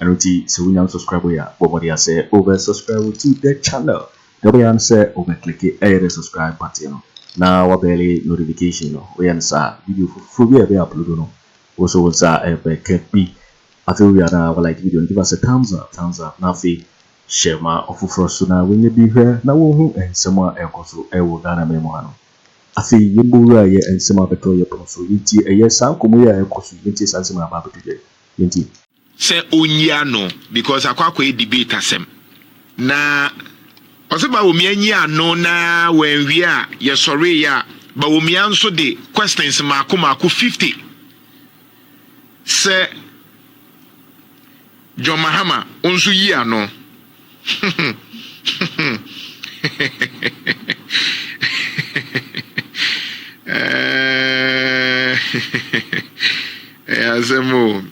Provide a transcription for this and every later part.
Ɛno nti sɛ wonya no subscribe yɛ a, bɔ mmɔden ara sɛ wobɛ subscribe to the channel. Deɛ wobɛyɛ ara ne sɛ wobɛ click ɛyɛ dɛ subscribe button no na wabɛle notification no. Woyɛ no saa a, video foforɔ bi a yɛbɛ upload no, wo nso wo nsa bɛka bi. Afei wowie a na wa like video no, give us a thumbs up, thumbs up, na afei hyɛ ma ɔfoforɔ nso na wɔnyɛ bi hwɛ na wɔhu nsɛm a ɛrekɔ so wɔ Ghana man mu ha no. Afei yɛmmɔ wura yɛ nsɛm a abɛtɔ yɛn pono so, yɛntie ɛyɛ saa nkɔmmɔ yi a ɛrekɔ so yi, yɛntie saa nsɛm a aba abɛto dwa yi, yɛntie. sɛ ɔnyi ano because akɔ akɔyɛ debate asɛm na ɔsɛ bawomia nyi ano na wɔanwie a yɛsɔreeɛ a bawomia nso de questions mako mako 50 sɛ John Mahama nso yi ano Ɛyɛ asɛm o.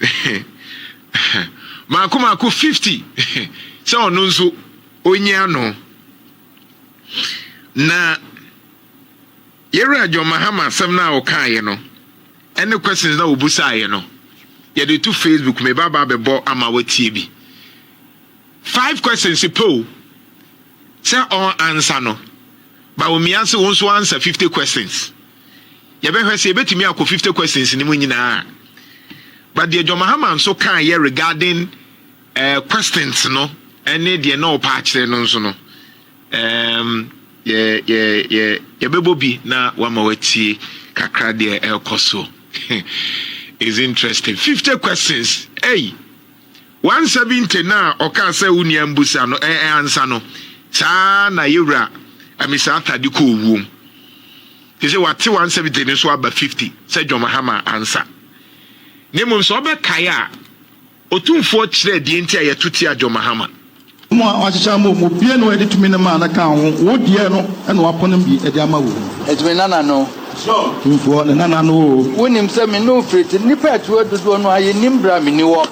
Mako mako 50 sɛ ɔno nso onyi ano. Na yɛwura John Mahama asɛm no a ɔkaeɛ no ɛne questions na ɔbusaeɛ no yɛde to Facebook meba ba bɛbɔ ama watie bi. Five questions pɛ o sɛ ɔn ansa no but omia se wo nso answer fifty questions. Yɛbɛhwɛ sɛ yɛbɛtumi akɔ fifty questions no mu nyinaa. But deɛ John Mahama nso kaeɛ regarding eh, questions no ɛne deɛ na ɔpɛ akyerɛ no nso no um, yɛ, yɛ, yɛ, yɛbɛbɔ bi na wama watie kakra deɛ ɛrekɔ so. It's interesting. Fifty questions. Hey! One seventy no a ɔkaa sɛ wo nua mbusa no ɛ ɛ ansa no, saa ara na Yewura Amisah Tadi kɔɔ wuom. Te sɛ wate one seventy no so aba fifty sɛ John Mahama ansa. Na mmom sɛ ɔbɛkae a, Otumfoɔ kyerɛɛ deɛ nti a yɛto tia John Mahama Mo a wɔakyekyɛ ama wo mu obiara na wɔde tumi no maa no kaa ho, wo deɛ no na wɔapono bi de ama wo. Enti me nana no. Tumfoɔ, ne nana no oo. Wonim sɛ me ne wo firi te, nnipa a ɛte hɔ dodoɔ no ara, yɛnnim berɛ a menni hɔ.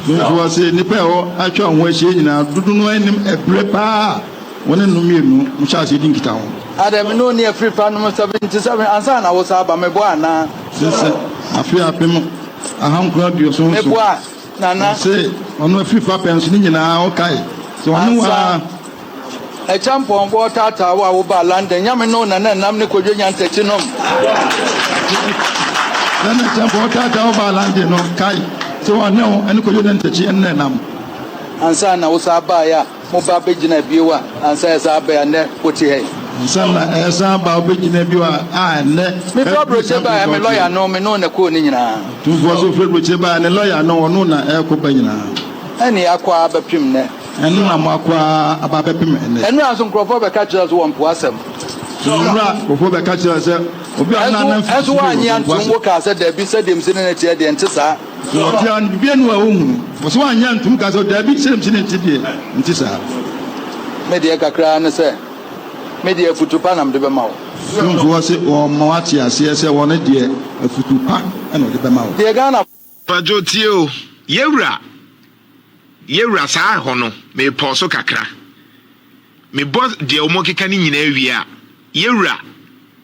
Tumfoɔ se, nnipa a ɛhɔ atwa wo ho ahyia yi nyinaa, dodo no ara nnim ɛberɛ pa ara a wo ne no mmienu mohyɛɛ aseɛ dii nkitaho. Adɛn, me ne wo nni afiri pa nom seventy seven ansa na wosan aba? Meboa anaa? Sensɛn, afe apem ahankron aduoson nson. Meboa. Nana. Ɔse ɔno afiri fapɛn so ne nyinaa ɔkae sɛ ɔne wo ara. Agya Mpɔnkɔ ɔtaataa wo a wo baa London nyame ne wo Nana Nnam ne Kwadwo Nyantakyi nom. Nana Agya Mpɔnkɔ ɔtaataa wo baa London no kae sɛ ɔne wo ɛne Kwadwo Nyantakyi ɛne Nana Nnam. Ansa na wo saa baeɛ a. Moba begyina bio a, ansa ɛsan aba yi a nnɛ wote ha yi. Ansa na ɛresan aba a wobegyina bio a, a nnɛ. Mefrɛ brochyɛ ba a, me lɔya no, me no na kɔɔ ne nyinaa. Tumfoɔ so frɛ brochyɛ ba a, ne lɔya no, ɔno na ɛrekɔ ba nyinaa. Ɛne akɔ ara bɛpem nnɛ. Ɛno na moakɔ ara aba abɛpem nnɛ. Nnora nso nkurɔfoɔ bɛka kyerɛ wo sɛ wɔmpo asɛm. Nnora nkurɔfoɔ bɛka kyerɛ wo sɛ obi a ɔnanam firi soro reba, wɔmpo asɛm. Ɛnso woannye antom, wokaa sɛ, Dabi, sɛdeɛ mese ne no teɛ deɛ, ɛnte saa. So ɔbea no biribi anu a ohunu? Ɔsɛ wanyɛ antum ka sɛ, Dabi, sɛnea mese no nte deɛ, ɛnte saa. Me deɛ kakra ara ne sɛ, me deɛ afutu pa na mede bɛma wo. Tumfoɔ se ɔrema wate aseɛ sɛ ɔno deɛ afutu pa na ɔde bɛma wo. Deɛ Ghanafoɔ. Pajo tie o yɛwura yɛwura saa ɛhɔ no mepɔw so kakra mebɔ deɛ ɔmɔ keka no nyinaa wie a yɛwura.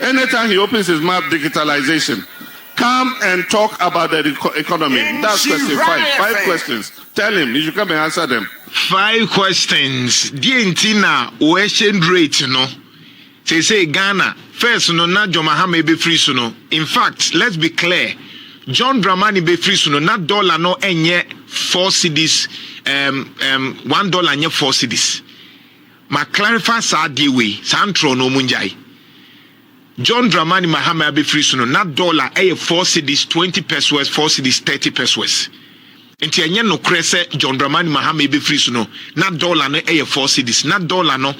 Anytime he opens his mouth digitalization come and talk about the economy that's question five five questions tell him he should come and answer them. Five questions deɛ nti na wo exchange rate no seesei Ghana first no na John Mahama ebefiri so no in fact let's be clear John Dramani befiri so no na dollar no ɛnyɛ four cedis um, um, one dollar nyɛ four cedis. Ma clarify saa adeɛ wei, saa ntorɔ no ɔmo ngyae. John Dramani Mahama abɛfiri so no na dollar ɛyɛ four cedis twenty pesoes four cedis thirty pesoes. Nti ɛnyɛ nokorɛ sɛ John Dramani Mahama ɛbɛfiri so no na dollar no ɛyɛ four cedis. Na dollar no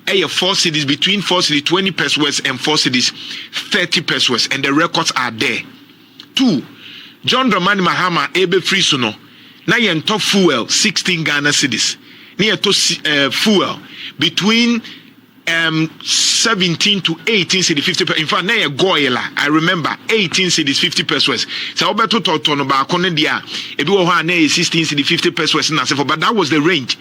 ɛyɛ four cedis between four cedis twenty pesoes and four cedis thirty pesoes and the records are there. Two, John Dramani Mahama rebɛfiri so no, na yɛntɔ fuel sixteen Ghana cedis, na yɛtɔ fuel between um, seventeen to eighteen cedis fifty per in fact na yɛ goil a I remember eighteen cedis fifty pesos sɛ wobɛtotɔ tɔno baako no deɛ a ebi wɔ hɔ a na yɛ sixteen cedis fifty pesos na asefo but that was the range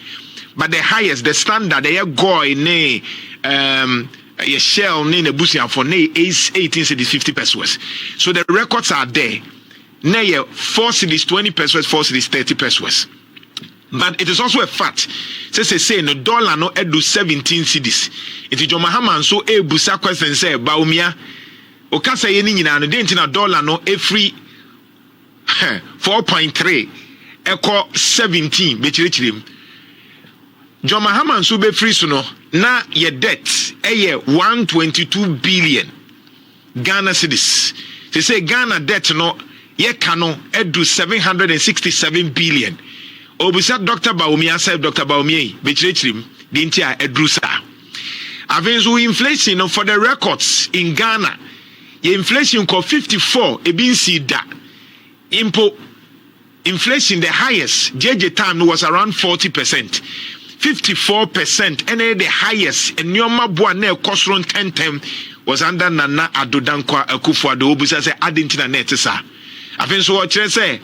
but the highest the standard ɛyɛ goil ne um, Ɛyɛ Shell ne n'abusuafo na ɛyɛ Ace eighteen cedis fifty pesewas so the records are there na ɛyɛ four cedis twenty pesewas four cedis thirty pesewas but it is also a fact sɛ sesei no dollar no adu seventeen cedis nti John Mahama nso ɛrebusa question sɛ Bawumia okasɛeɛ no nyinaa no dɛn nti na dollar no ɛfiri four point three kɔ seventeen bɛkyerɛkyerɛ mu. John Mahama nso bɛfiri so no na yɛ debt yɛ one twenty two billion Ghana cedis. Te sɛ Ghana debt no yɛka no aduru seven hundred and sixty seven billion. Obisa Dr. Bawumia sɛ Dr. Bawumia yi bɛkyerɛkyerɛ mu deɛ nti a aduru saa. Afei nso inflation no for the records in Ghana. Yɛ inflation kɔ fifty four ebi nsii da mpo inflation the highest gyegye time no was around forty percent fifty four percent ɛna yɛ the highest nneɛma bo a na ɛkɔ soro ntɛntɛm was under Nana Addo Dankwa Akufo-Addo wobisa sɛ adi nti na na ɛte saa afei nso wɔkyerɛ sɛ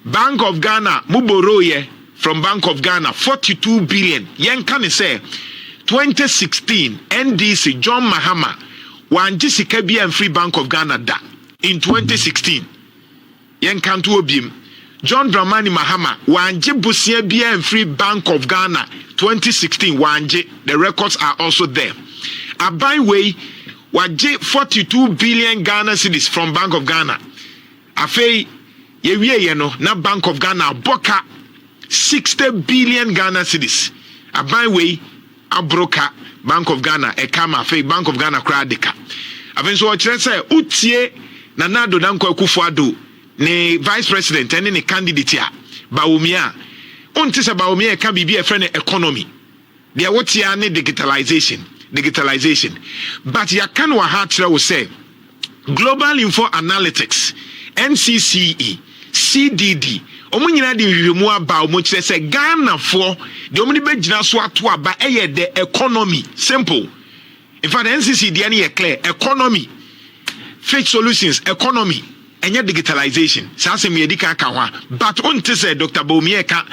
Bank of Ghana mo borrow yɛ From Bank of Ghana, Forty two billion, yɛnka no sɛ Twenty sixteen NDC John Mahama wangye sika biara mfiri Bank of Ghana da in Twenty sixteen yɛnka nto hɔ biem John Dramani Mahama wangye bosea biara mfiri Bank of Ghana Twenty sixteen wangye the records are also there aban wei wagye Forty two billion Ghana cedis from Bank of Ghana. Afei, yɛwieeɛ no, na Bank of Ghana abɔ ka sixty billion Ghana cedis. Aban wei aboro ka Bank of Ghana ɛka ma afei Bank of Ghana koraa de ka. Afei nso ɔkyerɛ sɛ wotie Nana Addo Dankwa Akufo Addo ne Vice President ɛne ne candidate a, Bawumia a, wonte sɛ Bawumia ɛka biribi a ɛfrɛ no economy. Deɛ wote ara ne digitalisation, digitalisation. But yɛaka no wɔ ha akyerɛ wo sɛ Global Info Analytics, NCCE, CDD, wɔn nyinaa de nhwehwɛmu aba a wɔkyerɛ sɛ Ghanafoɔ deɛ wɔde bɛgyina so ato aba yɛ the economy. Simple. In fact NCC deɛ no yɛ clear, economy, fake solutions, economy, ɛnyɛ digitalization. Saa asɛm yi yɛdi kan ka ho a, but wonte sɛ Doctor Bawumia ɛka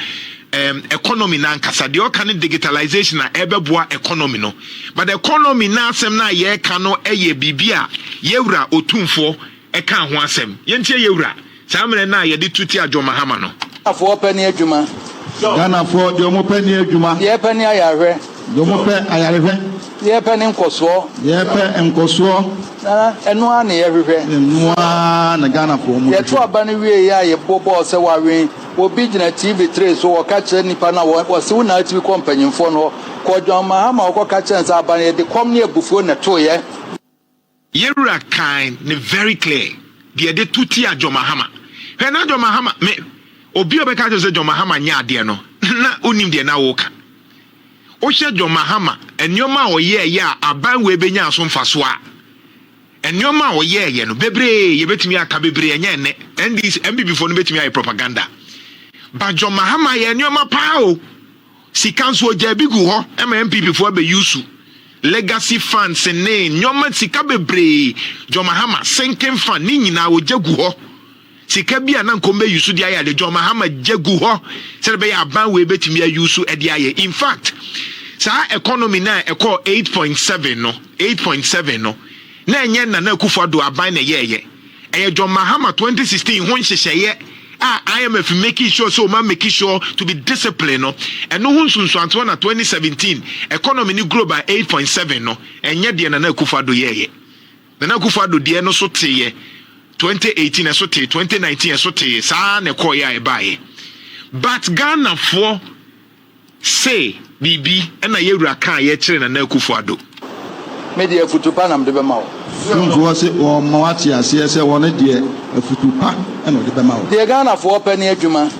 um, economy no ankasa. Deɛ ɔka ne digitalization a ɛbɛboa economy no. But economy no asɛm no a yɛreka no ɛyɛ biribi a yɛwura otumfoɔ ɛka ho asɛm. Yɛntie yɛwura. Saa mmerɛ no a yɛde tu tia John Mahama no. Ghanafoɔ pɛ ne adwuma. Ghanafoɔ deɛ wɔn pɛ ne adwuma. Deɛ yɛpɛ ne ayarehwɛ. Deɛ wɔn pɛ ayarehwɛ. Deɛ yɛpɛ ne nkɔsoɔ. Deɛ yɛpɛ nkɔsoɔ. Na ɛno ara na yɛhwehwɛ. Na ɛno ara na Ghanafoɔ wɔn hwehwɛ. Yɛto aba no wie yɛ a yɛbɔ bɔɔl sɛ wawe. Obi gyina TV tray so ɔka kyerɛ nnipa no a wɔse wo na atumi kɔ mpanyinfoɔ no hɔ. Kɔ John Mahama hɔ kɔka kyerɛ no sɛ aba no yɛde kɔm ne abufuo na ɛtoeɛ. Yɛwura kan ne very clear deɛ de to tia John Mahama hwɛ na John Mahama me obi ɔbɛka kyerɛ sɛ John Mahama nyɛ adeɛ no na onim deɛ na woka wohyɛ John Mahama nneɛma a ɔyɛɛ yɛ a aban wei bɛnya so mfasoɔ a nneɛma a ɔyɛɛ yɛ no bebree yɛbɛtumi aka bebree ɛnyɛ ɛnɛ NDC MPP foɔ no bɛtumi ayɛ propaganda ba John Mahama yɛ nneɛma paa o Sika nso ɔgyaa bi gu hɔ ma NPP foɔ abɛ use. Legacy funds ne nnoɔma sika bebree, John Mahama sinking fund ne nyinaa ɔgya gu hɔ. Sika bi a na nka ɔmo bɛ use de ayɛ ade, John Mahama gya gu hɔ sɛdeɛ ɛbɛyɛ a aban wei bɛtumi a use de ayɛ. In fact, saa economy no a ɛkɔɔ eight point seven no, eight point seven no, na ɛnyɛ Nana Akufo-Addo aban na ɛyɛɛyɛ. Ɛyɛ John Mahama twenty sixteen ho nhyehyɛeɛ a IMF makii sure sɛ wɔn ameki sure to be discipline no, ɛno ho nsunsuansoɔ na twenty seventeen economy no grow by eight point seven no, ɛnyɛ deɛ Nana Akufo Addo yɛeɛ. Nana Akufo Addo deɛ no so teeɛ twenty eighteen ɛso tee, twenty nineteen ɛso tee, saa ara na ɛkɔeɛ a ɛbaeɛ. But Ghanafoɔ. Se biribi na yɛ wura kaa yɛ kyere Nana Akufo Addo. Me deɛ afutu pa na mede bɛma wo. Tumfoɔ se ɔɔma wo ate aseɛ sɛ ɔno deɛ afutu pa na ɔde bɛma wo. Deɛ Ghanafoɔ pɛ ne adwuma.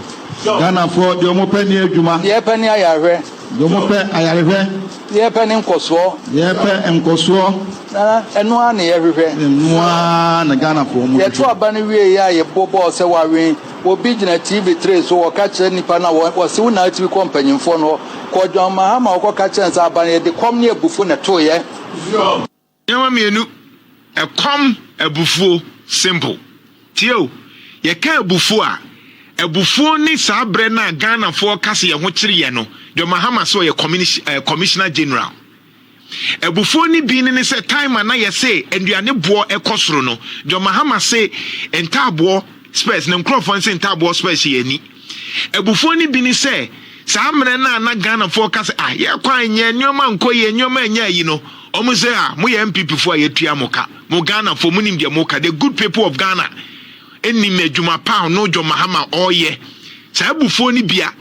Ghanafoɔ deɛ ɔmo pɛ ne adwuma. Deɛ yɛpɛ ne ayarehwɛ. Deɛ ɔmo pɛ ayarehwɛ. Deɛ yɛpɛ ne nkɔsoɔ. Deɛ yɛpɛ nkɔsoɔ. Na ɛno ara na yɛhwehwɛ. Ɛno ara na Ghanafoɔ ɔmo hwehwɛ. Yɛto aba no wieeɛ a yɛbɔ bɔɔl sɛ wawe. Obi gyina TV tray so ɔka kyerɛ nnipa no a ɔse wo na atumi kɔ mpanyimfoɔ no hɔ. Kɔ John Mahama hɔ kɔka kyerɛ no sɛ aba no yɛde kɔm ne abufuo na ɛtoeɛ. Nneɛma mmienu, ɛkɔm, abufuo. Simple. Tie o, yɛka abufuo a, abufuo ne saa berɛ no a Ghanafoɔ ka sɛ yɛn ho kyere yɛn no, John Mahama se ɔyɛ Commissioner General. Abufuo no bi ne sɛ time a na yɛse nnuane boɔ kɔ soro no, John Mahama se ntaaboɔ spɛs na nkurɔfoɔ nse ntaaboɔ spɛs hyɛ yɛn ani. Abufuo no bi ne sɛ saa mmerɛ no a na Ghanafoɔ ka sɛ ah yɛn kwan nyɛ, nneɛma nkɔ yie, nneɛma nyɛ ayi no, wɔn se ah moyɛ NPP foɔ a yɛatua mo ka, mo Ghanafoɔ monim deɛ moka, the good people of Ghana nim adwuma pa a ɔno John Mahama ɔreyɛ. Saa abufuo no bia.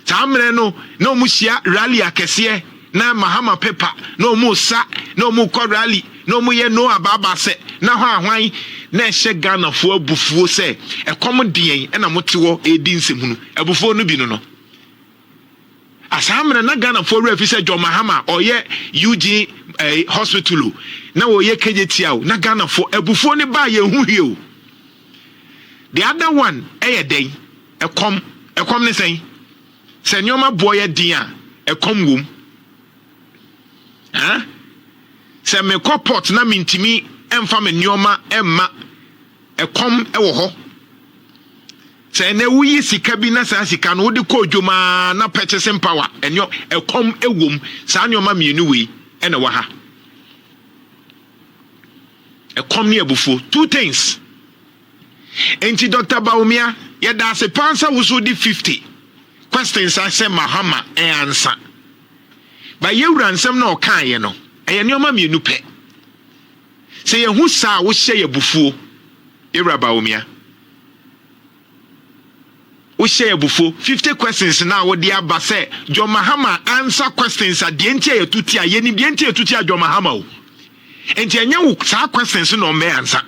Saa mmerɛ no na wɔn hyia rally akɛseɛ na Mahama pepa na wɔn resa na wɔn rekɔ rally na wɔn yɛ no abaaba sɛ na hɔ a hwan na ɛhyɛ Ghana foɔ abufuo sɛ ɛkɔm de yɛn ɛna mo te hɔ redi nsɛmhunu abufuo no bi no no a saa mmerɛ na Ghana foɔ werɛ fi sɛ John Mahama ɔyɛ UG eh, hospital o na ɔyɛ KJTI o na Ghana foɔ abufuo no baa yɛn ho hwie o the other one ɛyɛ dɛn Ɛkɔm, ɛkɔm ne sɛn? Sɛ nneɛma boɔ yɛ den a, ɛkɔm wom. Huh? Sɛ mekɔ port na mentumi mfa me nneɛma mma, ɛkɔm wɔ hɔ. Sɛ ɛnɛ woyi sika bi na saa sika no wode kɔ odwom ara na purchasing power ɛnneɛ ɛkɔm wom. Saa nneɛma mmienu wei ɛna wɔ ha. Ɛkɔm ne abufuo, two things. Enti Doctor Bawumia, yɛda ase paa sɛ wo so wode 50 questions ahyɛ Mahama ansa. Ba yɛwura nsɛm na ɔkaeɛ no, ɛyɛ nneɛma mmienu pɛ. Sɛ yɛhu saa a, wohyɛ yɛ abufuo, yɛwura Bawumia. Wohyɛ yɛ abufuo. 50 questions na wode aba sɛ John Mahama ansa questions a deɛ nti a yɛtu tia, yɛnim deɛ nti a yɛtu tia John Mahama o. Enti ɛnyɛ wo saa questions na ɔmmɛ ansa.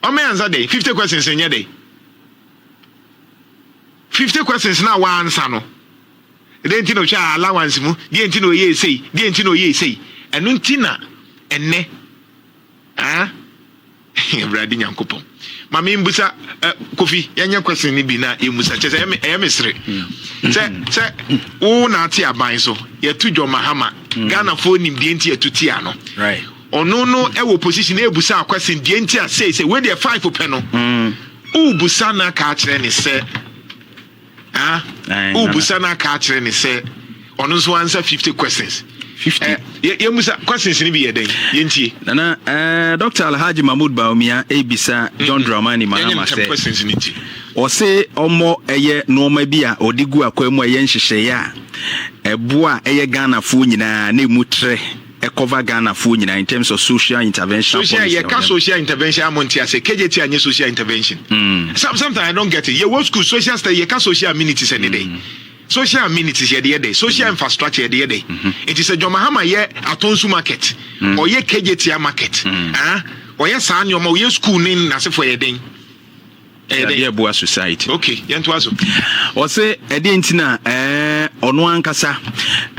Ɔma yɛansa dɛn? Fifty questions no nyɛ dɛn? Fifty questions no a wɔansa no, dɛn nti na ɔhwɛ allowance mu? Deɛ nti na ɔyɛ esei? Deɛ nti na ɔyɛ esei? Ɛno nti na ɛnɛ ah Awurade Nyankopɔn ma me mbusa eh, Kofi yɛnyɛ question no bi na yɛmmusa kyɛ sɛ ɛyɛ me sere mm. sɛ sɛ wo na ate aban so yɛto dwɔ mahama mm. Ghanafoɔ nim deɛ nti yɛto tia no Ɔno no wɔ position ɛbusa a question deɛ nti a sei sɛ wei deɛ five pɛ no wo busa na aka akyerɛ ne sɛ ah wo busa na aka akyerɛ ne sɛ ɔno nso answer fifty questions fifty eh, yɛ musa questions ni bi yɛ dɛn yɛ ntie nana eh, Dr. Alhaji Mahmoud Bawumia ebisa mm-hmm. John Dramani Mahama sɛ questions ni nti ɔse ɔmɔ ɛyɛ nneɛma bi a ɔde gu akwan mu a ɛyɛ nhyehyɛeɛ a ɛboa ɛyɛ Ghanafoɔ nyinaa na emu trɛ Ɛ cover Ghana foɔ nyinaa in terms of social intervention policy. Social yɛ ka social intervention a mo nte aseɛ KJT a nyɛ social intervention. Mm. Some sometimes I don't get it. Yɛ wɔ school social study yɛ ka social amenities ɛne dɛ. Mm. Social amenities yɛ de yɛ dɛ. Social mm. infrastructure yɛ de yɛ dɛ. Mm-hmm. Nti sɛ John Mahama yɛ Atonsu market. Mm. Ɔyɛ KJT a market. Mm. Ah, ɔyɛ saa nneɛma ɔyɛ school ne n'asefoɔ yɛ den. Ɛyɛ dɛ yɛ boa society. Ok, yɛn to aso. Ɔse ɛdeɛ nti na ɛɛ ɔno ankasa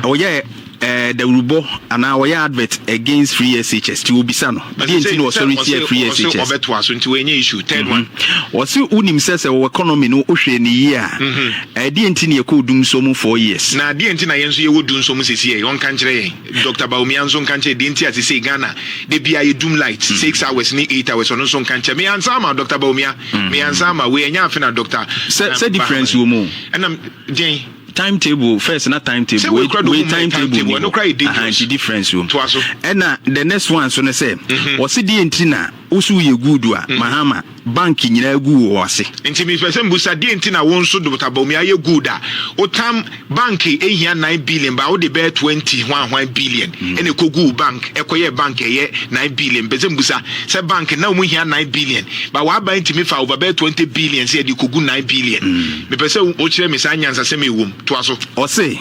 ɔyɛ ɛɛ dawurubɔ anaa ɔyɛ advert against free SHS ti obisa no ɛdeɛ nti na ɔsɔre tia free SHS. Ɔse ɔbɛ to aso nti wɔnyɛ issue. Third mhm. one. Ɔse unim sɛ sɛ wɔ economy no ohwɛ ne yie a mhm. ɛdeɛ nti na yɛkɔ odum so mu four years. Na ɛdeɛ nti na yɛn nso yɛwɔ dum so mu sisi yɛ ɔnka nkyerɛ yɛn. Doctor Bawumia nso nka nkyerɛ deɛ nti a sesei Ghana da biara yɛ doom light mm. six hours ne eight hours ɔno nso nka nkyerɛ me ansa ama Doctor Bawumia mm. me ansa ama wei ɛnyɛ afe na Doctor sɛ eh, sɛ difference wɔ mu ɛnam deɛn timetable first na timetable wei wei timetable ni hɔ ahanti difference wɔ mu ɛna the next one so ne sɛ wɔsi deɛ nti na. Wo so yɛ good a Mahama bank nyinaa gu wo ase. Nti me pɛ sɛ me busa deɛ nti na wo nso Dr Bawumia ayɛ good a wo tam bank hia nine billion baa wo de bɛyɛ twenty hwan hwan billion ɛna ɛkɔ gu wo bank ɛkɔ yɛ bank ɛyɛ nine billion me pɛ sɛ me busa sɛ bank na ɔmo hia nine billion baa wa ban tumi fa over bɛyɛ twenty billion sɛ yɛde kɔ gu nine billion me pɛ sɛ wo kyerɛ me saa nyansasɛm a ɛwom. Toa so. Ɔse,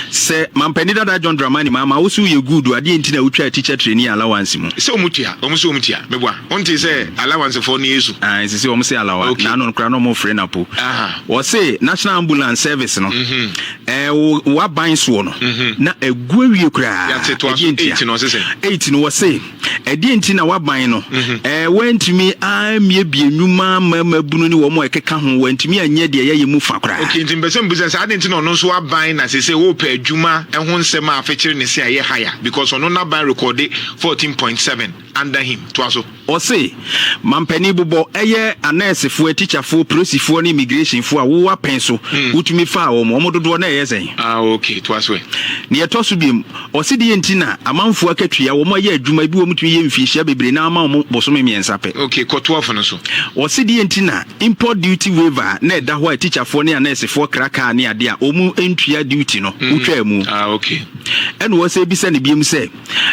Sɛ mampanin dada John Dramani Mahama, wo se woyɛ good o, adeɛ nti na wotwaa teacher trainee allowance mu? Sɛ wɔn tua, wɔn se wɔn tua, meboa. Wontee sɛ allowance foɔ ne Yesu? Ae, sese wɔn se alawa, Okay. na ano no koraa na wɔn fre no apo. Aha. Ɔse, National Ambulance Service no, ɛɛ wo w'aban soɔ no, na agu awie koraa, Yɛate, toa so. ɛdeɛ ntia? Eight no, ɔse sɛn? Eight no, ɔse, ɛdeɛ nti na waban no ɛɛ wantumi ammiebie nnwuma mmarima bunu ne wɔn a ɛkeka ho wantumi anyɛ deɛ yɛyɛ mu fa koraa. ok nti mpɛsɛ mbusa sɛ adeɛ nti na ɔno nso aban na sese wɔpɛ adwuma ɛho nsɛm a afekyere ne se a ɛyɛ haya because ɔno n'aban rekɔde fourteen point seven under him toa so. ɔse mampanin bobɔ ɛyɛ anɛɛsefoɔ atikyafoɔ prosifoɔ ne immigrationfoɔ a wo apɛn so hmm. wotumi faa wɔn wɔn dodoɔ na ɛyɛ sɛn. ah ok toa so ɛ. nea ɛtɔ so biom Ɔse deɛ nti na amanfoɔ akatua wɔn ayɛ adwuma ebi wɔn tumi yɛ mfiihyia bebree na ama wɔn bosome mmiɛnsa pɛ. Okay kɔ toa fo no so. Ɔse deɛ nti na import duty waiver a na ɛda hɔ a tikyafoɔ ne anɛɛsefoɔ kra kaa ne adeɛ a wɔn ntua duty no wotwaa mu. Ah okay. Ɛna ɔsɛ bisa no biom sɛ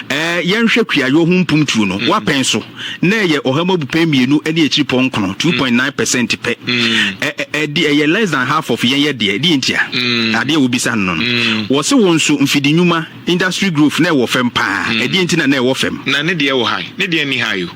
ɛɛ yɛnhwɛ kuayɔ ho mpumtuo no wapɛn so. na ɛyɛ ɔha mu abupɛn mmienu ne akyiripɔ nkono, two point nine percent pɛ. Ɛ ɛ ɛde ɛyɛ less than half of yɛn yɛ deɛ. Deɛ ntia? Adeɛ a wobisa no no. Wɔse wo nso mfidi nnwuma, industry growth, na ɛwɔ fam paa. Ɛdeɛ nti na na ɛwɔ fam? Na ne deɛ wɔ high, ne deɛ nni high o.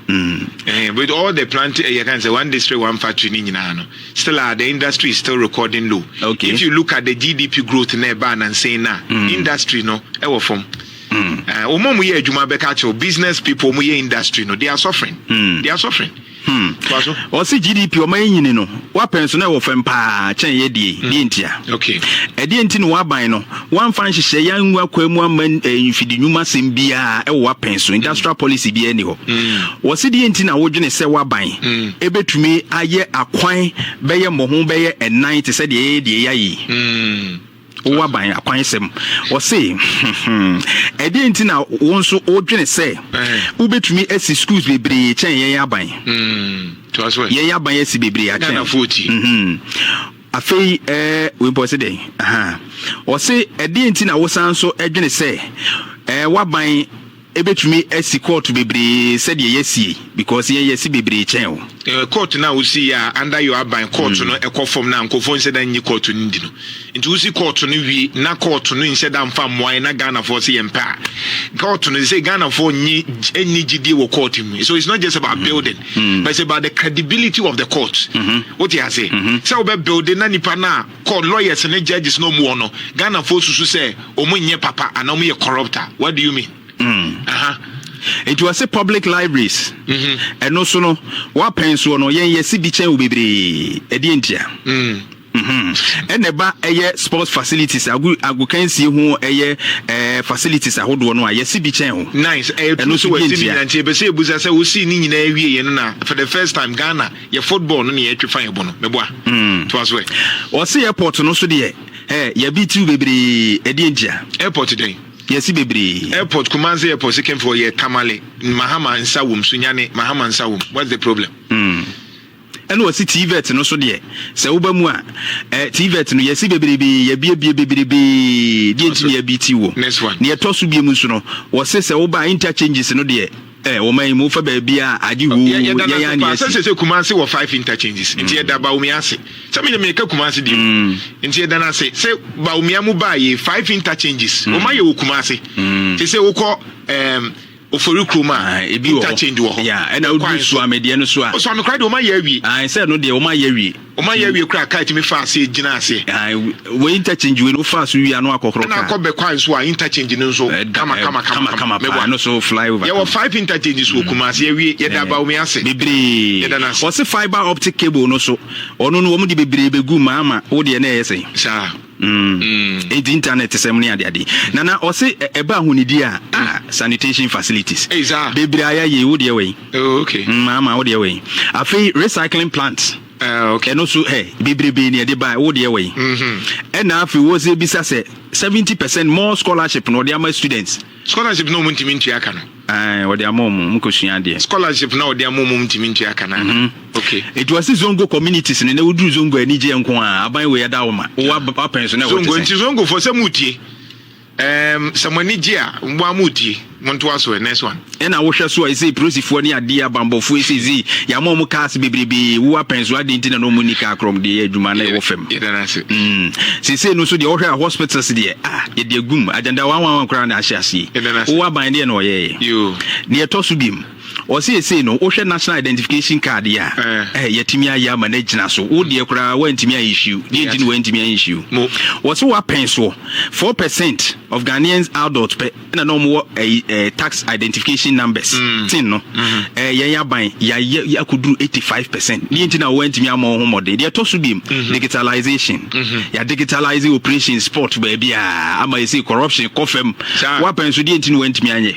Ɛhɛn, with all the plant ɛyɛ kan sɛ one district one factory ne nyinaa no, still a the industry is still recording low. Okay. If you look at the GDP growth na ɛbaa nansa yi no a, industry no ɛwɔ fam. Mm. Uh, wɔn a wɔyɛ adwuma bɛka akyerɛw business people wɔn yɛ industry no they are suffering. Mm. They are suffering. Hmm. ɔsi gdp ɔma yɛ nyini no wapɛn so na ɛwɔ fam paa kyɛn yɛ die hmm. die ntia ɛdeɛ nti na waban no wamfa nhyehyɛ yɛ angu akwa mu ama eh, mfidi nnwuma asɛm biara ɛwɔ wapɛn so industrial hmm. policy biara ni hɔ wɔsi deɛ nti na wodwene sɛ waban ɛbɛtumi ayɛ akwan bɛyɛ mmɔho bɛyɛ ɛnan te sɛ deɛ yɛyɛ deɛ yɛayɛ Wo aban akwansɛm. Ɔse, Ɛdeɛn nti na wo nso wodwene sɛ wobɛtumi asi schools bebree kyɛn yɛn aban? Yɛn aban asi bebree akyɛn. Afei wei pɔ se dɛn? Ɔse, Ɛdeɛn nti na wosan nso dwene sɛ waban Ebetumi asi kɔɔto bebree sɛdeɛ yɛasi yi because yɛn yɛasi bebree kyɛn wo. Eh, kɔɔto no a wosi yɛ a under your aban kɔɔto no ɛkɔ fam no a nkurɔfoɔ nhyɛ da nnye kɔɔto no ndi no. Nti wosi kɔɔto no wie na kɔɔto no nhyɛ da mfa mmoa yɛn na Ghanafoɔ se yɛmpɛ a kɔɔto no sɛ Ghanafoɔ nnye nni gyidie wɔ kɔɔto mu. So it's not just about building but it's about the credibility of the court. Wote ase? Sɛ wobɛ builde na nipa no a kɔ lawyers ne judges na ɔmo wɔ no Ghana foɔ susu sɛ ɔmo nyɛ papa anaa ɔmo yɛ corrupt a what do you mean? Mm. Aha. Nti wɔse public libraries mm-hmm. ɛno so no wapɛn soɔ no yɛn yɛse bi kyɛn wo bebree ɛdeɛ ntia mm. mm-hmm. ɛna ɛba ɛyɛ sports facilities agu agokansie ho ɛyɛ ɛɛ facilities ahodoɔ no a yɛse bi kyɛn ho nice ɛno so bi ntia ɛbɛsɛ ebusa sɛ wosi ne nyinaa wie yɛn no na for the first time Ghana yɛ football no ne yɛtwe fa yɛbɔ no mɛboa mm. toa so ɛ ɔse airport no so deɛ ɛ yɛbi tiw bebree ɛdeɛ ntia airport dɛn yɛsi bebree airport kumase airport second floor yɛ tamale mahama nsa wom so nyane mahama nsa wom what's the problem mm. ɛna ɔsi tvet no so deɛ sɛ woba mu a ɛ tvet no yɛsi bebrebe yɛbiebie bebrebe deɛ nti ne yɛbi ti wɔ neɛ ɛtɔ so bie mu nso no wɔse sɛ woba interchanges no deɛ Eh, ɔman yi mu wofa baabiaa a agye hoo, yɛn a ne asi. Sɛ sɛ sɛ Kumasi wɔ five interchanges, nti yɛda Bawumia ase. Sɛ menyɛ meka Kumasi bio. Nti yɛda no ase sɛ Bawumia mu baa yei five interchanges, ɔma yɛ wɔ Kumasi. Te sɛ wokɔ um, ofori kurom a interchange wɔ hɔ. Ɛna wodu Suamedeɛ no so a. Suamekora deɛ ɔma yɛ awie. Sɛ no deɛ ɔma yɛ awie. Wɔn ayɛ awie koraa a car tumi fa aseɛ gyina aseɛ. Ae wei interchange wei no wofa so wie a na wakɔkorɔ car. Ɛna akɔ Bekwai nso a interchange no nso kama kama kama kama paa ɛno so fly over. Yɛwɔ five interchanges wɔ Kumasi awie yɛda Abawome ase. Bebree. Yɛda no ase. Wɔse fibre optic cable no so ɔno no wɔn de bebree bɛgu mu ama wo deɛ na ɛyɛ sɛn. Saa. Mm. Enti internet sɛm ne adeade. Nana ɔse ɛba ahonidie a ah sanitation facilities. Ei saa. Bebree ayɛ yei wo deɛ wɛn. Oh ok maa maa wo deɛ wɔ yi afei recycling plant ɛno so ɛ bebrebe ne ɛde ba wo deɛ wɔ yi ɛna afei wɔ sɛ bisa sɛ seventy percent more scholarship na ɔde ama students scholarship na ɔmo ntumi ntua ka no ɛɛ ɔde ama ɔmo ɔmo kɔ sua adeɛ scholarship na ɔde ama ɔmo ntumi ntua ka no mhm. ok it was zongo communities ne na woduru zongo anigyeɛ nko a aban wei ɛda wo ma wɔ apɛn so na ɛwɔ te sɛ zongo nti zongo fɔ sɛ mo tie Ɛɛm sɛ mo ani gye a, mo a mo tie, mo ntoa so ɛ, next one. Ɛna wo hwɛ so a ɛsei prosifoɔ ne adeɛ abanbɔfoɔ ɛsei sei yama ɔmo cars bebrebee wo apɛn so adɛn nti na na ɔmo nni car korɔm deɛ adwuma na ɛwɔ fam Yɛda no ase. mm seisei no nso deɛ wohwɛ a hospitals deɛ ah yɛde agum agyandawanwanwan koraa na ahyɛ aseɛ Yɛda no ase. wo aban deɛ na ɔyɛɛyɛ Yoo. deɛ ɛtɔ so biom. Ɔse seisei no wohwɛ national identification card yi a ɛɛ yɛatumi ayɛ ama no agyina so. Wo deɛ koraa woantumi an issue. Deɛ nti no woantumi an issue. Wɔse woapɛn soɔ. Four percent of Ghanaian adults pɛ na na wɔn wɔ ɛyi ɛɛ tax identification numbers tin no. Ɛɛ yɛn aban yɛayɛ akɔduru eighty five percent. Deɛ nti na woantumi ammɔ wo ho mmɔden. Deɛ ɛtɔ so biom digitalization. Yɛ digitalise operations spot baabiara ama seisei corruption kɔ fam. Woapɛn so deɛ nti na woantumi anyɛ.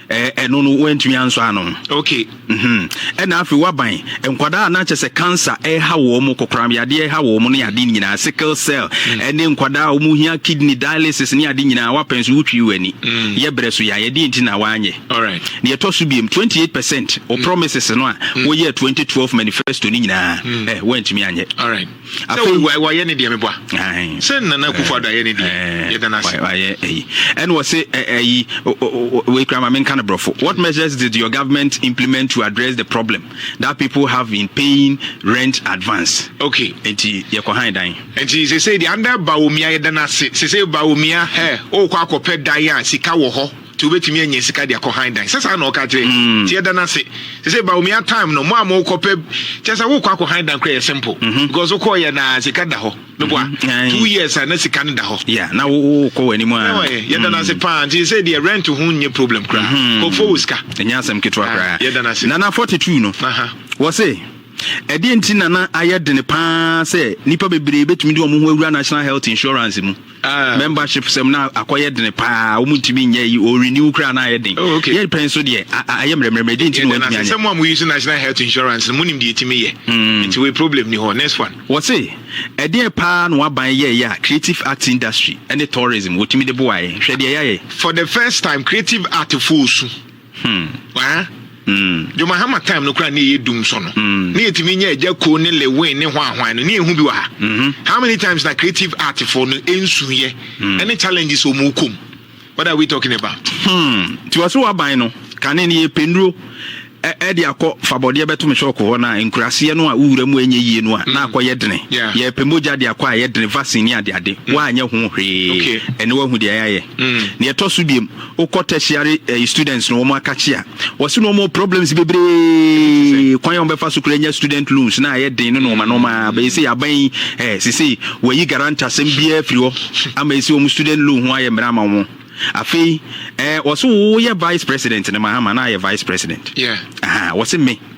ɛno no wantumi ansɔ ano ok mhm. ɛna afei waban nkwadaa na kyɛ sɛ cancer ɛha wɔn mu kokoram yadeɛ ɛha wɔn mu ne ade nyinaa sickle cell mm. ɛne nkwadaa a wɔn hia kidney dialysis ne ade nyinaa wapɛn so wotwi wɔ ani mm. yɛ brɛ so yɛayɛ deɛ nti na wanyɛ deɛ ɛtɔ so biem 28 percent o mm. promises no a wɔyɛ 2012 manifesto ne nyinaa ɛ wantumi anyɛ afei wayɛ ne deɛ meboa sɛ nana akufo ado ayɛ ne deɛ yɛda no ase wayɛ ayi ɛne wɔ se ayi wei kura ma menka no borɔfo what measures did your government implement to address the problem that people have been paying rent advance okay enti yɛkɔ han dan enti sesei deɛ anda baomia yɛda no ase sesei baomia hɛ wokɔ akɔpɛ dan a sika wɔ hɔ Nti wobɛtumi anya sika de akɔ han dan sɛ saa na ɔka kyerɛ mm. nti yɛda no ase sɛ sɛ baomia time no mo a mokɔpɛ kyɛ sɛ wokɔ akɔ han dan kora yɛ simple mhm. because wokɔɔyɛ na sika da hɔ meboa mhm. two years a na sika no da hɔ na wokɔ w'anim a yɛda no ase mm. paa nti sɛ deɛ rent ho nyɛ problem koraa mhm. kɔfo wɔ sika ɛnyɛ asɛm ketewa ah, koraa yɛda no ase nana 42 no wɔ se ɛdeɛ nti nana ayɛ dene paa sɛ nnipa bebree bɛtumi de wɔn ho awura national health insurance mu Ah. membership sɛm na akɔyɛ dene paa wɔn ntumi nyɛ yi o renew koraa na ayɛ den oh, okay. yɛ pɛn so deɛ ayɛ mmerɛmmerɛmmerɛ di nti na wɔntumi anyɛ. sɛ mo a mo use national health insurance no mo nim deɛ ɛtumi yɛ hmm. nti wei problem ni hɔ next one. wɔse ɛdeɛ paa na waban yɛ yɛ a creative arts industry ɛne tourism wɔtumi de boaeɛ hwɛ deɛ yɛayɛ. for the first time creative art fo osu. Hmm waa mm dwuma hama time no koraa ne yɛ dum so no mm. ne yɛtumi nya agya ko ne lewin ne hwanhwan no ne yɛhu bi wɔ ha mm -hmm. how many times na creative art fo no ɛnsuyɛ mm. ɛne challenges ɔmu kom what are we talking about hmm nti wɔ so waban no kane ne yɛpɛ nnuro ɛde akɔ fabɔdeɛ bɛto me shɔko hɔ no a nkuraseɛ no a wowura mu ɛnyɛ yie no a na mm. akɔ yɛ dene yɛpɛ mogya de akɔ a yɛ dene vaccine ne adeade mm. woanyɛ ho hwee ɛne woahu deɛ ɛyɛ ayɛ ne mm. ɛtɔ so biom Wokɔ tertiary ɛyi students no wɔn akakye a wɔsi na wɔn wɔ problems bebree kwan a wɔbɛfa so kura nya student loans na ayɛ den no na wɔn anam a bɛyɛ sɛ yaban yi ɛɛ sese wɔyi garanta asɛm biara firi hɔ ama esi wɔn student loan ho ayɛ mmerɛ ama wɔn afei ɛɛ wɔsi wɔyɛ vice president ne mahama na ayɛ vice president ɛɛ wɔsi me.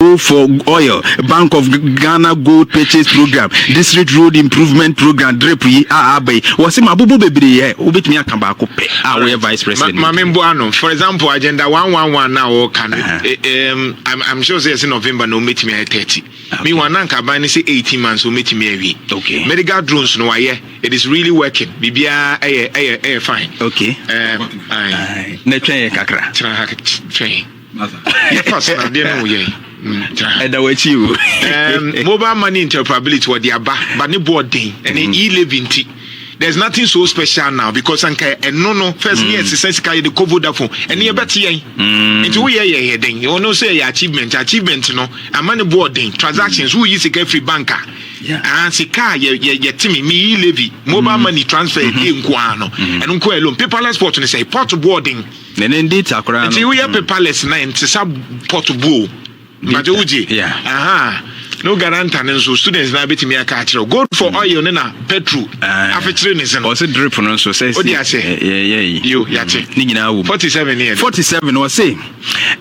Go for oil, Bank of Ghana gold purchase program, district road improvement program, drip yi a aba yi, wɔsi ma abobo bebree yɛ, wobɛtumi aka baako pɛ a woyɛ vice president. Ma me mboa no, for example agenda one one one na wɔka no, I'm, I'm sure sɛ yɛsɛ November na wɔbɛtumi ayɛ thirty. Me wɔn ananka aban no sɛ eighteen months wɔbɛtumi awie. Okay. Medical drones no wayɛ, it is really working, biribiara ɛyɛ ɛyɛ ɛyɛ fine. Okay. Um, ayi. Na twɛn yɛ kakra. Tena ha twɛn. yɛfa so na adeɛ no wo yɛn ɛda w'akyi o mobile money interoperability wɔde aba ba ne boɔ den ɛne mm-hmm. e-levy nti there's nothing so special now because anka ɛno no first mm. ne ɛsesa sika yɛde kɔ vodafone ɛne mm. yɛbɛte yɛn mm. nti woyɛ yɛ yɛ den ɔno sɛ ɛyɛ achievement achievement no ama ne boɔ den transactions woyi sika firi bank a ah, sika a yɛte me meyi levy mobile mm. money transfer ɛdeɛ mm-hmm. nkoaa no mm-hmm. ɛno nkoaa loan paperless port no sɛ port boɔ den Ne ne data koraa no. Nti woyɛ paperless na nti sa port bu o. Mbaje wogye. Aha. No garanta ne nso students na betumi aka akyerɛ. Go for mm. oil ne na petrol. Ah. Afekyere ne sen. Ɔse drip no nso sɛ si. Yɛ yɛ yi. Yo yate. Mm. Ne nyinaa wom. 47 ne yɛ. 47 ɔse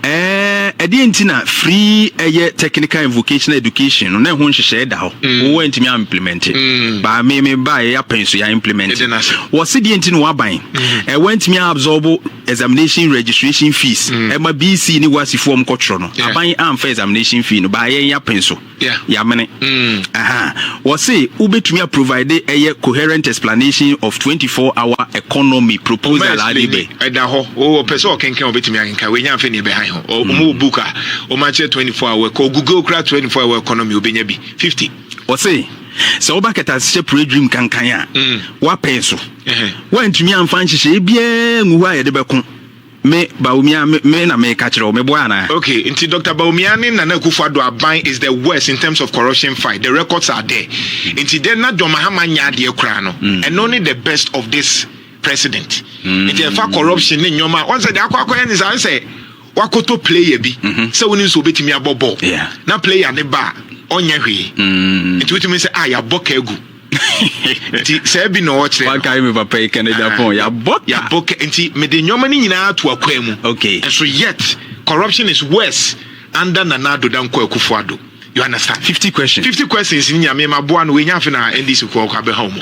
eh ɛdeɛ nti na free ɛyɛ technical and vocational education no na ɛho nhyehyɛe da hɔ. Mm. Wo ntumi a implement. Ba me me ba yɛ apɛn so yɛ implement. Wɔse deɛ nti na waban. ɛ wantumi absorb examination registration fees ɛma mm. bc ne wasi fo ɔm kɔtwerɛ no aban amfa examination fee no baayɛ yɛn apɛn so yamene mm. wɔse wobɛtumi aprovide ɛyɛ coherent explanation of 24 hour economy proposal ade bɛ ɛda hɔ wɔpɛ sɛ ɔkenkan wɔbɛtumi akenkan wɔnya mfɛ ne ɛbɛhan ho ɔmu mm. book a wɔmakyerɛ 24 hour kɔ google kora 24 hour economy wobɛnya bi 50 Ɔse, Sɛ woba kɛtɛasekyɛ pue dwirim kankan a, woapɛe so. Woantumi amfa nhyehyɛe biara angu hɔ a yɛde bɛko me, Bawumia, me me na meka kyerɛ wo, meboa anaa? Ok, nti Doctor Bawumia ne Nana Akufo Addo aban is the worst in terms of corruption fight, the records are there. Nti dɛ na John Mahama nyɛ adeɛ koraa no, ɛno ne the best of this President. Nti ɛfa corruption ne nneɛma a, wahu sɛ deɛ akɔ akɔyɛ ne saa, wahu sɛ. woakɔtɔ player bi mhm. sɛ wonim sɛ wobɛtumi abɔ bɔɔl na player ne ba a ɔnyɛ hwee mm. nti wotumi sɛ a ah, yɛabɔ ka agu nti saa bi na ɔkyerɛ me papa yi canada ah, pɔn yɛabɔ ka nti mede nneɔma no nyinaa to akwan mu nso yet corruption is worse under nana ado dankɔ akufo ado you understand 50 questions 50 questions ni nyame maboa no wɔnya afe na ndc kɔ ɔkɔ abɛha mu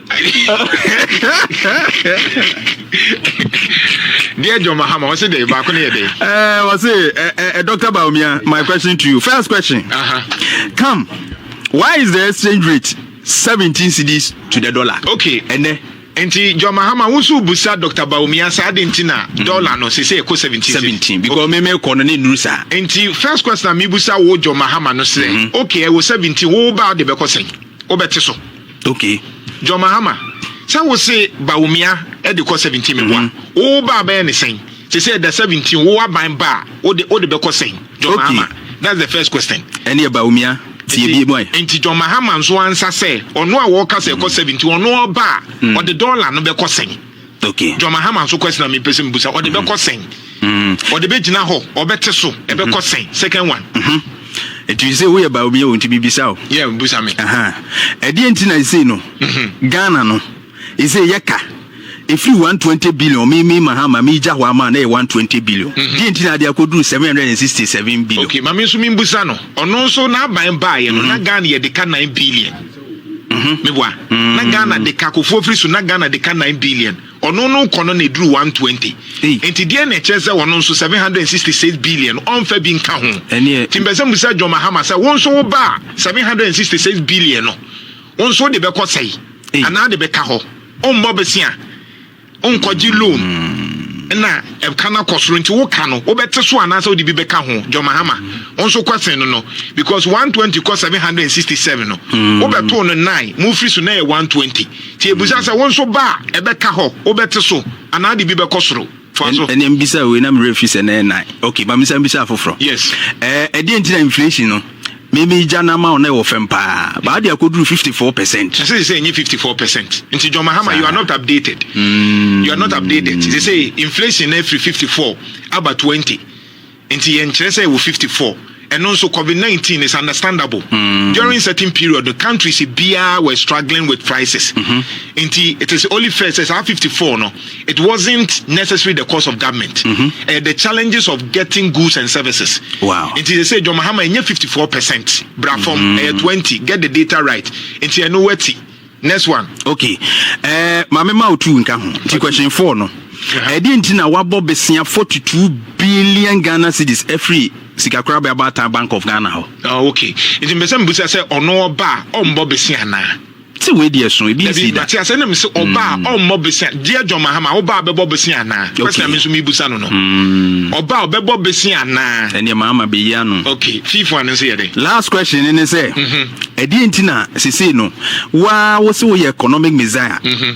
Dear John Mahama, what's it? Back on the day. Uh, what's it? Uh, uh, uh, Dr. Baumia, my question to you. First question. Uh-huh. Come, why is the exchange rate 17 cedis to the dollar? Okay. And then nti john mahama wusu busa dr baumia saa de nti na mm. dollar no sese ɛkɔ seventeen seventeen because mi mi kɔ no ne nuru saa. nti first question na mi busa wo john mahama no sɛ mm-hmm. okay ɛwɔ seventeen wo ba de bɛkɔ sɛn wo bɛ ti so. Okay. John Mahama, sɛ wo se Bawumia de kɔ 17 me boa, mm-hmm. wo wo ba bɛyɛ ne sɛn? Sɛ sɛ ɛda 17 wo aban ba a, wo de wo de bɛkɔ sɛn? John okay. Mahama, that's the first question. Ɛne yɛ Bawumia tie bie bɔn. Nti John Mahama nso ansa sɛ ɔno a wɔka sɛ ɛkɔ 17 ɔno ɔba a ɔde dɔla no bɛkɔ sɛn? Okay. John Mahama nso question na mepɛ sɛ mebusa ɔde mm-hmm. bɛkɔ sɛn mm-hmm. ɔde bɛgyina hɔ ɔbɛte so ɛbɛkɔ mm-hmm. sɛn second one ɛtumi sɛ woyɛ ba obi yɛ wo nti bibisa o yɛ busa me ɛdeɛ nti na ɛsei no ghana no ɛsei yɛka ɛfiri 120 billion me me mahama megya hɔ ama na yɛ 120 billion deɛ nti na ade akɔduru 767 billion okay ma me nso membusa no ɔno nso n'aban baeɛ no na ghana yɛde ka 9 billion Meboa. Na Ghana de ka Akuffo firi so na Ghana de ka nine billion. Ɔno no kɔ no na ɛduru one twenty. Nti deɛn na ɛkyerɛ sɛ ɔno nso seven hundred and sixty six billion ɔmfa bi nka ho? Nti mpɛ sɛ mbisa John Mahama sɛ wo nso wo ba a seven hundred and sixty six billion no wo nso wode bɛkɔ sɛe? Anaa wode bɛka hɔ? Wommɔ bosea? Nkɔgye loan na ɛka no akɔ soro nti woka no wobɛte so anaasɛ wode bi bɛka ho John Mahama wo nso kɔsen no no because 120 kɔ 767 no hmm. wobɛtoo no 9 mofiri so na ɛyɛ 120 nti ɛbusa sɛ wo nso ba a ɛbɛka hɔ wobɛte so anaa de bi bɛkɔ soro ɛnɛ mbisa wei na mmerɛ fi sɛ na ɛnan ok ma mesa mbisa afoforɔ yes ɛdeɛ nti na inflation no Me me gya na ma o na ɛwɔ fam paa but ade akoduru fifty four percent. Ɛsɛ sɛ sɛ ɛnyɛ fifty four percent nti John Mahama you are not updated mm. you are not updated sɛ sɛ inflation na afiri fifty four aba twenty nti yɛn kyerɛ sɛ ɛwɔ fifty four ɛno nso covid nineteen is understandable mm. during certain period the countries biara were struggling with prices mm -hmm. nti it is only fair sɛ saa fifty four no. It wasn't necessary the cost of government mm -hmm. uh, the challenges of getting goods and services wow. nti sɛ sɛ John Mahama ɛnyɛ 54 percent bra fam mm -hmm. uh, 20 get the data right nti ɛno wati next one okay uh, maame ma otu nka ho nti question four no ɛde uh-huh. nti na wabɔ besia 42 billion ghana cedis ɛfiri sikakora bɛ abata bank of ghana hɔ oh, okay nti mbɛsɛ mbusa sɛ ɔno ɔba a ɔmbɔ besia anaa Sɛ wei deɛ ɛso, ebi nsi da. Mate asɛ na mese ɔba a mm. ɔmmɔ bese deɛ John Mahama ɔba a bɛbɔ bese anaa kwasi na me nso mebusa no no mm. ɔba a ɔbɛbɔ bese anaa ɛneɛ Mahama bɛyi ano ok fiifo ano nso yɛ dɛ last question ne ne sɛ mhm. ɛdeɛ nti na sesei no waa wo se woyɛ economic messiah mhm.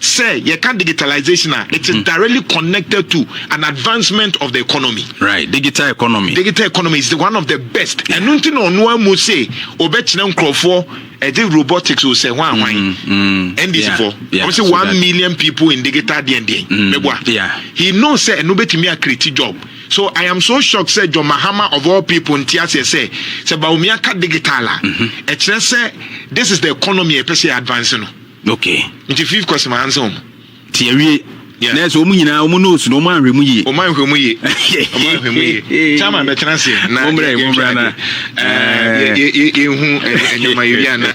Sɛ yɛka digitalisation a, it is directly connected to an advancement of the economy. Right, digital economy. Digital economy is the one of the best. Ɛno nti na ɔno amu se ɔbɛkyerɛ nkurɔfoɔ ɛde robotics o sɛ hwan hwan. NDC fo, ɔmo se one million people in digital deɛn deɛn. Mɛboa. He knows sɛ ɛno bɛtumi a create job. So I am so shocked sɛ John Mahama of all people nte aseɛ sɛ sɛ Bawumia ka digital a, ɛkyerɛ sɛ this is the economy a yɛpɛ sɛ yɛ advance no. Okay. Nti fifth course ma handsome wɔn. Ti awie. Yeah. Nɛɛsɛ wɔn nyinaa wɔn nose no wɔn anhwɛ mu yie. Wɔn anhwɛ mu yie. Wɔn anhwɛ mu yie. Chairman bɛ tena se. Na yɛ yɛ nhwɛ ade. Yɛ yɛ yɛ yɛ hu ɛnyɛma yɛ bi ana.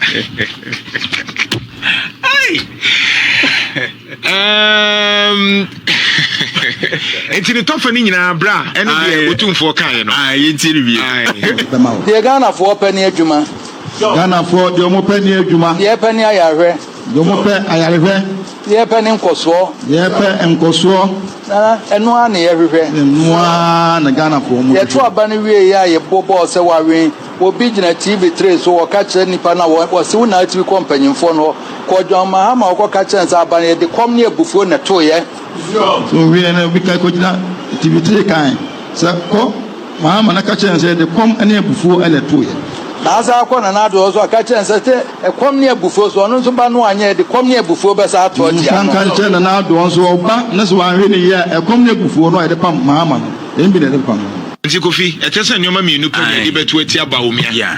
Um, nti ne tɔfa no nyinaa berɛ a ɛne deɛ ɔtumfoɔ kaeɛ no yɛntie no wie deɛ ghanafoɔ pɛ ne adwuma Ghanafoɔ deɛ ɔmo pɛ ne adwuma. Deɛ yɛpɛ ne ayarehwɛ. Deɛ ɔmo pɛ ayarehwɛ. Deɛ yɛpɛ ne nkɔsoɔ. Deɛ yɛpɛ nkɔsoɔ. Na ɛno ara na yɛhwehwɛ. Na ɛno ara na Ghanafoɔ ɔmo hwehwɛ. Yɛto aba no wie yɛ a yɛbɔ bɔɔl sɛ wawen. Obi gyina TV tray so ɔka kyerɛ nipa no a ɔse wo na atumi kɔ mpanyinfoɔ no hɔ. Kɔ John Mahama hɔ kɔka kyerɛ no sɛ aba no yɛde kɔm ne abufuo na ɛtoeɛ. So owiee no, obi kae kogyina atifikyiri kae sɛ, Kɔ! Mahama no ka kyerɛɛ no sɛ, 'De kɔm ne abufuo na ɛtoeɛ. Na asan akɔ Nana Addo hɔ nso aka akyerɛ no sɛ, Te ɛkɔm ne abufuo so. Ɔno nso ba no anyɛɛ de kɔm ne abufuo bɛsan ato atia no. San ka kyerɛ Nana Addo nso, ɔba no sɛ wanhwɛ no yie a, ɛkɔm ne abufuo no a yɛde pam Mahama no, ɛmbi na yɛde bɛpam no. Nti Kofi, ɛtɛ sɛ nneɛma mmienu pɛ na yɛde bɛto atia Bawumia.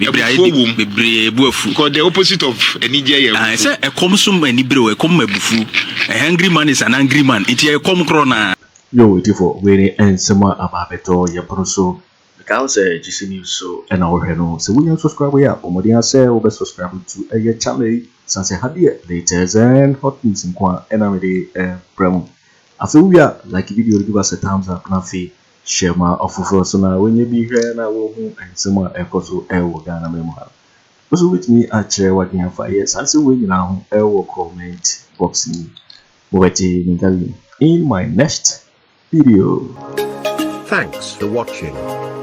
Abufuo wom. Bebree bo afu. Because the opposite of anigyeɛ yɛ abufuo. Sɛ ɛkɔm so ma anibere o, ɛkɔm ma abufuo. A hungry man is an angry man. Nti ɛyɛ kɔm korɔ naa. Yoo ɔtifo wei ne nsɛm a aba abɛtɔ yɛn pono so. Meka wo sɛ GC news so na wo hwɛ no sɛ wo nya subscribe yi a bɔ mmɔden ara sɛ wo bɛ subscribe to yɛ channel yi sane sɛ ha deɛ latest and hot news nko a na me de brɛ mo. Afei wo wie a like video no give us a thumbs up na afei Hyɛ ma afoforɔ nso na wɔnyɛ bi hwɛ na wɔhu nsɛm a ɛrekɔ so wɔ Ghanaman mu ha no. Wo nso wobɛtumi akyerɛ w'adwene afa yɛ saa nsɛm wei nyinaa ho wɔ comment box no mu. Mobɛte me nka bio in my next video. Thanks for watching.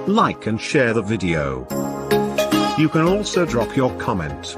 Like and share the video. You can also drop your comment.